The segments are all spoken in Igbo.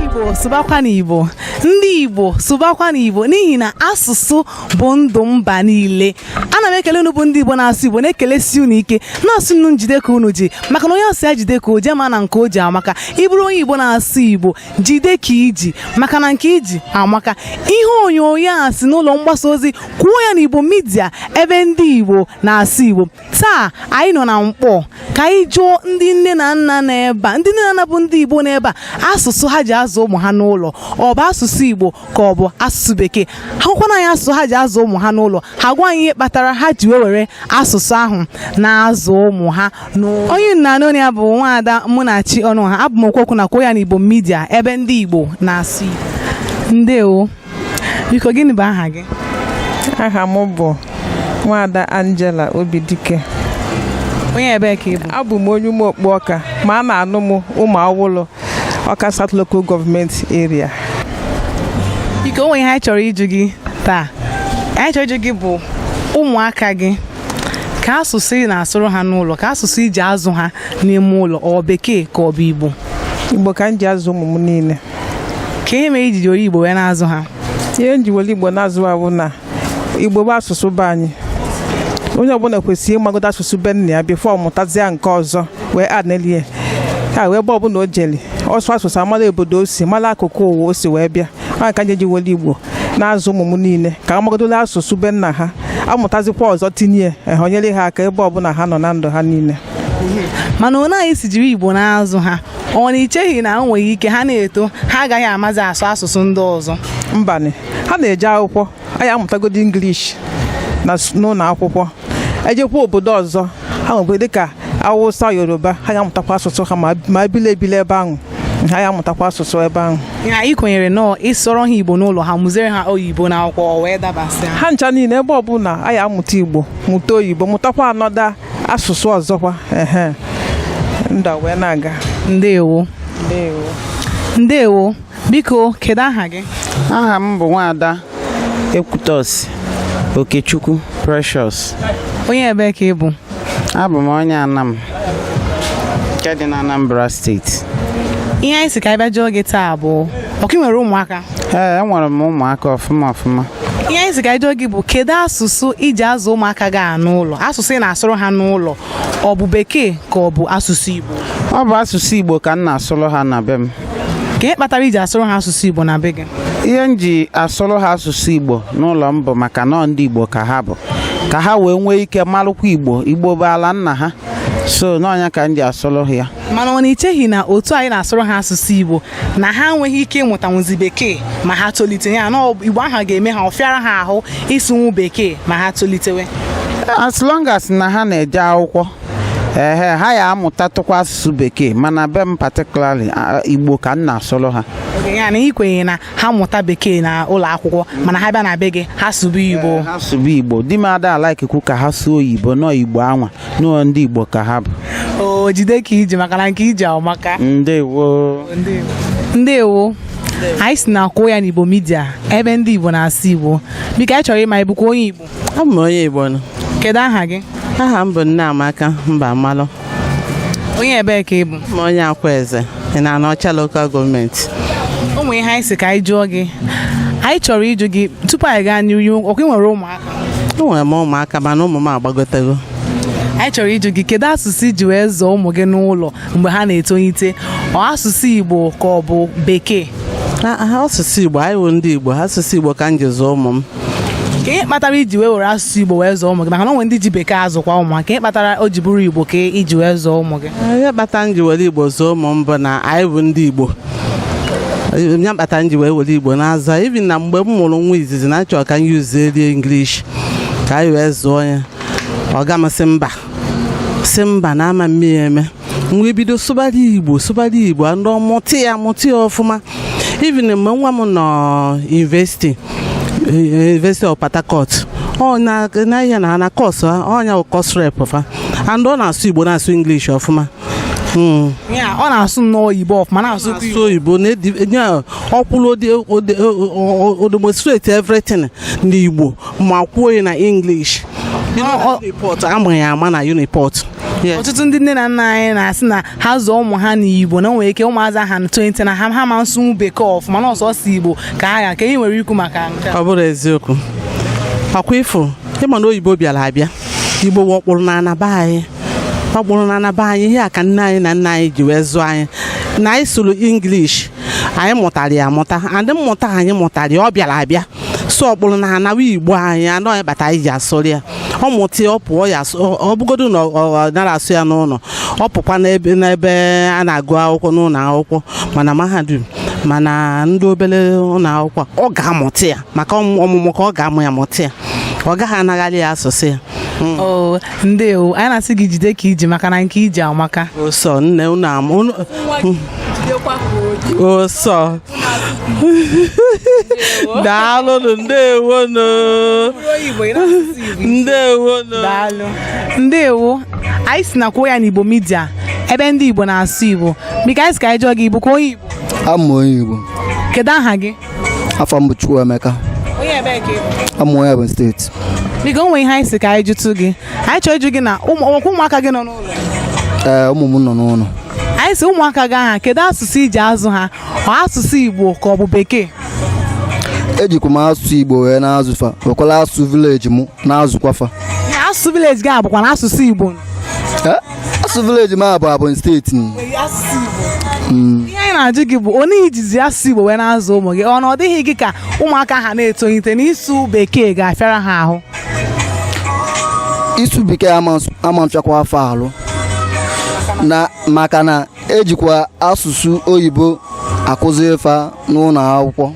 igbo sụbakwanụ igbo ndị igbo sụbakwanụ igbo n'ihi na asụsụ bụ ndụ mba niile ana m ekele unu bụ ndị igbo na-asụ igbo na-ekelesi unu ike na-asị unu jide ka unu ji maka na onye a sị ya jide ka o ji ma na nke o ji amaka ị bụrụ onye igbo na-asụ igbo jide ka i ji maka na nke i ji amaka ihe onyonyo a si n'ụlọ mgbasa ozi kwuo ya n'igbo media ebe ndị igbo na-asụ igbo taa anyị nọ na mkpọ ka anyị jụọ ndị nne na nna n'ebe a ndị nne na nna bụ ndị igbo n'ebe a asụsụ ha ji azụ ụmụ ha n'ụlọ ọ bụ asụsụ igbo ka ọ bụ asụsụ bekee ha gwakwanụ anyị asụsụ ha ji azụ ụmụ ha n'ụlọ ha gwa anyị ihe kpatara ha ji wee were asụsụ ahụ na-azụ ụmụ ha n'ụlọ onye unu na-anụ olu ya bụ nwaada Munachi Ọnụọha abụ m okwuokwu na Kwuo Ya n'Igbo Media ebe ndị Igbo na-asụ Igbo ndewo biko gịnị bụ aha gị aha m bụ nwaada Angela Obidike onye ebee ka ị bụ abụ m onye Ụmụokpu Ọka ma a na-anụ m Ụmụawụlụ Ọka South Local Government Area. Okay o nwe ihe anyị chọrọ ịjụ gị taa ihe anyị chọrọ ịjụ gị bụ ụmụaka gị kee asụsụ ị na-asụrụ ha n'ụlọ kee asụsụ i ji azụ ha n'ime ụlọ ọ bekee ka ọ bụ Igbo Igbo ka m ji azụ ụmụ m niile. kee ihe mere i ji were Igbo wee na-azụ ha ihe m ji were igbo na-azụ ha wụ na igbo bụ asụsụ be anyị onye ọbụla kwesịrị ịmagodo asụsụ be nna ya before ọ mụtazia nke ọzọ wee anelie ka wee ebe ọbụla o jeli ọ sụọ asụsụ a mara obodo o si mara akụkụ ụwa o si wee bịa ya ka m ji were igbo na-azụ ụmụ m niile ka ha magodo asụsụ be nna ha amụtazikwa ọzọ tinye ehe o nyere ha aka ebe ọbụla ha nọ na ndụ ha niile mana onye anyị si jiri igbo na-azụ ha ọ na i cheghị na o nwere ike ha na-eto ha agaghị amazi asụ asụsụ ndị ọzọ mbanụ ha na-eje akwụkwọ ha ya-amụtagodo English n'ụlọ akwụkwọ ha jekwa obodo ọzọ ha nwekwe dịka awụsa yoruba ha ya-amụtakwa asụsụ ha ma ha bili ebili ebe ahụ ha ya-amụtakwa asụsụ ebe ahụ ya ị kwenyere na ọ ị sụọrọ ha igbo n'ụlọ ha mụziere ha oyibo n'akwụkwọ wee dabasị ha ncha niile ebe ọbụla ha amụta igbo mụta oyibo mụtakwa another asụsụ ọzọkwa ehe ndụ ewee na-aga ndewo ndewo ndewo biko kedu aha gị aha m bụ nwaada ekwutosi okechukwu precious onye ebee ka ị bụ abụ m onye anam nke dị na anambra steeti ihe anyị si ka anyị bịa jụọ gị taa bụ ọkwa i nwere ụmụaka ee enwere m ụmụaka ọfụma ọfụma ihe anyị sị ka jụọ gị bụ kedu asụsụ i ji azụ ụmụaka gị a n'ụlọ asụsụ ị na-asụrụ ha n'ụlọ ọ bụ bekee ka ọ bụ asụsụ igbo ọ bụ asụsụ igbo ka m na-asụrụ ha na be m kee ihe kpatara i ji asụrụ ha asụsụ igbo na be gị ihe m ji asụrụ ha asụsụ igbo n'ụlọ m bụ maka na ọ ndị igbo ka ha bụ ka ha wee nwee ike marụkwa igbo igbo bụ ala nna ha so na ọ nya ka m ji asụrụ ha ya mana ọ na i cheghị na otu anyị na-asụrụ ha asụsụ igbo na ha enweghị ike ịmụtanwuzi bekee ma ha tolite ya na igbo ahụ ga-eme ha ọ fịara ha ahụ ịsụnwu bekee ma ha tolitewe as long as na ha na-eje akwụkwọ ehe ha ya-amụtatụkwa asụsụ bekee mana be m particularly igbo ka m na-asụrụ ha ya na i kwenye na ha mụta bekee na ụlọ akwụkwọ mana ha bịa na be gị ha sụba igbo ha sụba igbo di m ada alikekwu ka ha sụọ oyibo na ọ igbo anwa n'ụlọ ndị Igbo ka ha bụ o jide ka i ji maka na nke i ji amaka ndewo ndewo anyị si na akwụ ya n'Igbo media ebe ndị Igbo na-asụ Igbo biko anyị chọrọ ịma ị bụkwa onye Igbo abụ m onye Igbo nnọọ kedu aha gị aha m bụ Nneamaka Mbamalụ onye ebee ka ị bụ abụ m onye Akwaeze in Anaọcha local government o nwere ihe anyị sị ka anyị jụọ gị anyị chọrọ ịjụ gị tupu anyị gaa n'ihu ọkwa ị nwere ụmụaka enwere m ụmụaka mana ụmụ m agbagotego anyị chọrọ ịjụ gị kedu asụsụ i ji wee zụọ ụmụ gị n'ụlọ mgbe ha na-etolite ọ asụsụ igbo ka ọ bụ bekee asụsụ igbo anyị bụ ndị igbo asụsụ igbo ka m ji zụọ ụmụ m kee ihe kpatara i ji wee were asụsụ igbo wee zụọ ụmụ gị maka na o nwe ndị ji bekee azụkwa ụmụ kee ihe kpatara o ji bụrụ igbo ka i ji wee zụọ ụmụ gị ihe kpatara m ji were igbo zụọ ụmụ m bụ na anyị bụ ndị igbo ya kpata m ji wee were igbo na-azụ ha even na mgbe m mụrụ nwa izizi na achọrọ ka m yuzie rie english ka anyị wee zụọ ya ọga m asị mba sị mba na ama mmiri eme m wee bido sụbara igbo sụbara igbo and ọ mụta ya mụta ya ọfụma even mgbe nwa m nọ university university of port harcourt na ihe na na course ọ nya course rep fa and ọ na-asụ igbo na-asụ english ọfụma Ya, ọ na-asụ nnọọ oyibo ọfụma na-asụkwa asụ oyibo na-edi nye a, ọ kwụrụ ode- ode- o- o- o demonstrate everything n'igbo ma kwuo ya na english You know, na uniport a ma ya ama na uniport Yes. ọtụtụ ndị nne na nna anyị na-asị na ha zụọ ụmụ ha n'igbo na o nwere ike ụmụazị ha na-etonite na ha ama nsụnwu bekee ọfụma na ọ sọsọ igbo ka ha ga kee ihe i nwere ikwu maka nke a. ọ bụrọ eziokwu ọkwa ị fụ ị ma na oyibo bịara abịa igbo bụ akpụrụ n'ana be anyị ọ bụrụ na na be anyị ihe a ka nne anyị na nna anyị ji wee zụọ anyị na anyị sụrụ English anyị mụtara ya amụta and mmụta anyị mụtara ya ọ bịara abịa so ọ bụrụ na anawa igbo anyị anọ anyị bata anyị ji asụrụ ya ọ mụta ya ọ pụọ ya asụ- ọ- ọ bụgodu na ọ ọ nara asụ ya n'ụlọ ọ pụkwa n'ebe n'ebe a na-agụ akwụkwọ n'ụlọ akwụkwọ ma na mahadum ma na ndị obere ụlọ akwụkwọ ọ ga-amụta ya maka ọmụmụ ka ọ ga-amụ ya mụta ya ọ gaghị anagharị ya asụsụ ya hmm. oh, ndewo anyị na-asị gị jide ka i ji maka na nke i ji amaka sọ nne unu ama sọ daalụnụ ndewonụ ndewonụ ndewo anyị si na kwuo ya n'Igbo media ebe ndị Igbo na-asụ Igbo biko anyị si ka anyị jụọ gị Igbo kwuo Igbo ama onye Igbo kedu aha gị afa m bụ Chukwuemeka onye ebe ka ị bụ abụ m onye Ebonyi steeti biko o nwere ihe anyị si ka anyị jụtụ gị anyị chọrọ ịjụ gị na ụmụ- o nwekwa ụmụaka gị nọ n'ụlọ ee ụmụ m nọ n'ụlọ anyị si ụmụaka gị ahụ kedu asụsụ i ji azụ ha ọ asụsụ igbo ka ọ bụ bekee ejikwa m asụsụ igbo wee na-azụ fa wekwala asụsụ village m na-azụkwa fa Ya, asụsụ village gị a bụkwa na asụsụ igbo Ee, asụ village m abụ abụ steeti m. Mm. ihe anyị na-ajụ gị bụ ọ na i jizi asụ igbo wee na-azụ ụmụ gị ọ na ọ dịghị gị ka ụmụaka ha na-etolite na ịsụ bekee ga-afịara ha ahụ ịsụ bekee ama nsụ- ama mfịakwa fa alụ na maka na ejikwa asụsụ oyibo akụzi ife n'ụlọ akwụkwọ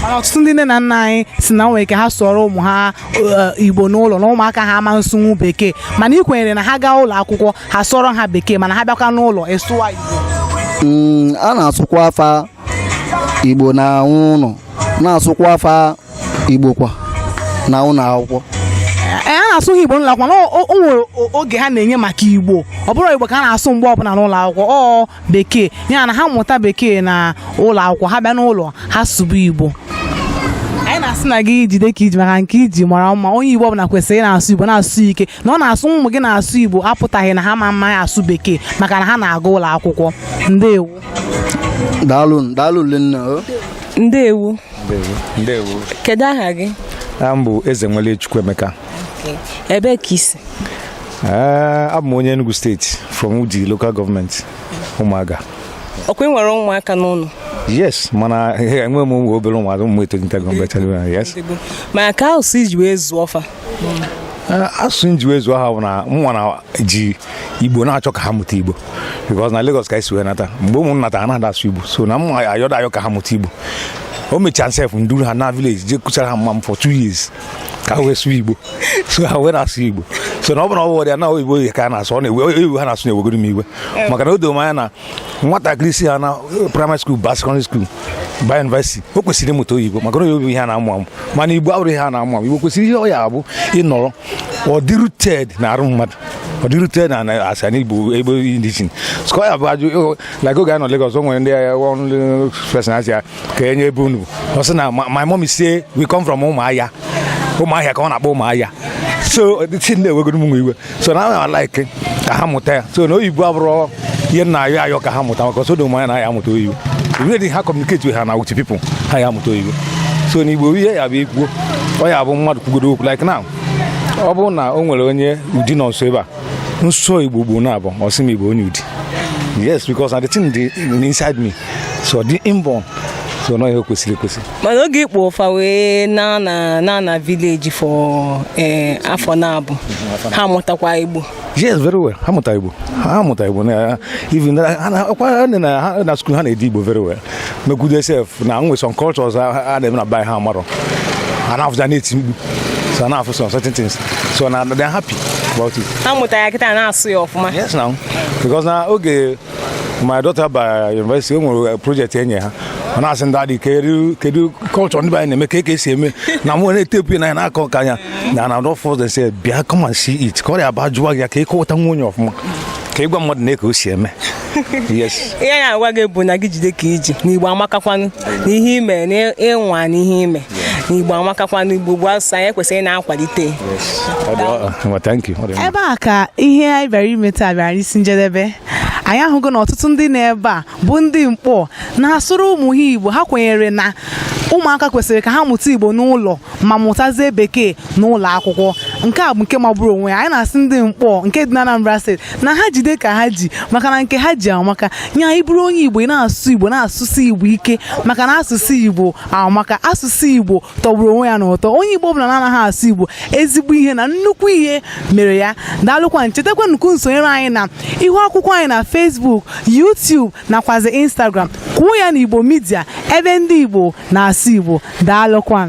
mana ọtụtụ ndị nne na nna anyị si na nwere ike ha sụọrọ ụmụ ha eh, igbo n'ụlọ na ụmụaka ha ama nsụnwu bekee mana ị kwenyere na ha gaa ụlọ akwụkwọ ha sụọrọ ha bekee mana ha bịakwa n'ụlọ ị sụwa igbo mm, a na-asụkwa fa igbo na ụlọ na-asụkwa fa igbo kwa na ụlọ akwụkwọ a na-asụghị igbo n'ụlọ akwụkwọ na o o nwere o- oge ha na-enye maka igbo ọ bụrọ igbo ka a na-asụ mgbe ọbụla n'ụlọ akwụkwọ ọ bekee ya na ha mụta bekee na ụlọ akwụkwọ ha bịa n'ụlọ ha sụba igbo anyị na-asị na gị jide ka i ji maka nke i ji mara mma onye igbo ọbụla kwesịrị ị na-asụ igbo na-asụ ike na ọ na-asụ ụmụ gị na-asụ igbo apụtaghị na ha ma mma ya asụ bekee maka na ha na-aga ụlọ akwụkwọ ndewo daalụ daalụ lenna o ndewo ndewo kedu aha gị aha m bụ Eze nwere Chukwuemeka ebee ka i si eh, abụ m onye Enugu steeti from Udi local government Ụmụaga ọkwa ị nwere ụmụaka n'ụlọ yes mana enwe m ụmụ obere ụmụaka ụmụ m etolitego mgbe yes ma ka ahụ si ji wee zụọ fa eh, asụsụ m ji wee zụọ ha bụ na mụnwa na ji igbo na-achọ ka ha mụta igbo because na Lagos ka e si wee nata mgbe ụmụ nata ha na-ada asụ igbo so na mụnwa na-ayọ ayọ ka ha mụta igbo e mechaa sef m duru ha naa village je kwụsara ha mama m for two years ka ha wee sụọ igbo so ha wee na-asụ igbo so na ọ bụrụ na ọ bụ ọrịa na oyibo ka ha na-asụ ọ na-ewe ha na-asụ na-ewegodo m iwe maka na o doro m anya na nwatakịrị si ha na primary school ba secondary school ba university o kwesịrị ịmụta oyibo maka na oyibo bụ ihe a na-amụ amụ mana igbo abụrọ ihe a na-amụ amụ igbo kwesịrị ihe ọ ya-abụ ị nọrọ ọ dị rooted na arụ mmadụ ọ dị rooted na na- asị na igbo ebe indigenes ka ọ ya-abụ a jụọ like oge anyị nọ Lagos o nwere ndị agha ọrụ fesa a sị ya kee onye ebe unu bụ. ọ sị na "Ma- my mom say we come from Ụmụahịa Ụmụahịa ka ọ na-akpọ Ụmụahịa so si na-ewegodo mụnwa iwe so mụnwa like ka ha mụta ya so na oyibo abụrọ ihe m na-ayọ ayọ ka ha mụta maka o do m anya na ha ya-amụta oyibo ibe dị ha communicate ha na with people ha ya-amụta oyibo so na igbo ihe ya-abụ e kwuo ọ ya-abụ mmadụ kwugodo okwu like now ọ bụrụ na o nwere onye Udi nọ nso ebe a m sụọ igbo ugboro naabọ ọ sị m ị bụ onye Udi yes because na the thing dị inside me so ọ dị inborn so na ihe kwesịrị ekwesị mana oge i kpolu fa wee na na na na village for eh, afọ naabọ ha amụtakwa igbo yes very well ha mụta igbo ha mụta igbo na even ha na- ọ kwa ha na- na ha na school ha na-ede igbo very well mekwudo sef na e nwe some cultures ha ha na-eme na be anyị ha marọ ha na-afụ ya na-eti mkpu so na-afụ some certain things so na they are happy about it ha mụta ya kịta na-asụ ya ọfụma yes now because na oge my daughter ba university o nwere project e nye ha ọ na-asị m daddy kedu kedu culture ndị be anyị na-eme kee ka e si eme na mụ na-etepu ya na ya na-akọ nke anya na na rọfọs de se bịa come and see it ka ọ ya-abụ a jụwa gị ya ka ị kọwatanwu onye ọfụma ka ị gwa mmadụ nee ka e si eme yes ihe anyị ya-agwa gị bụ na gị jide ka i ji na igbo amakakwanụ na ihe i me na ị nwaa na ihe i me na igbo amakakwa na igbo bụ asụsụ anyị kwesịrị na-akwalite ebe a ka ihe anyị bịara ime taa bịara n'isi njedebe anyị ahụgo na ọtụtụ ndị nọ ebe a bụ ndị Nkpọ na-asụrụ ụmụ ha igbo ha kwenyere na ụmụaka kwesịrị ka ha mụta igbo n'ụlọ ma mụtazie bekee n'ụlọ akwụkwọ nke a bụ nke magburu onwe ya anyị na-asị ndị Nkpọ nke dị na Anambra steeti na ha jide ka ha ji maka na nke ha ji amaka nya ị bụrụ onye igbo ị na-asụ igbo na-asụsi igbo ike maka na asụsụ igbo amaka asụsụ igbo tọgburu onwe ya n'ụtọ onye igbo ọ bụla na-anaghị asụ igbo ezigbo ihe na nnukwu ihe mere ya daalụkwanụ chetakwanụ ka unu sonyere anyị na ihu akwụkwọ anyị na Facebook YouTube nakwazi Instagram kwuo ya na igbo media ebe ndị igbo na-asụ igbo daalụkwa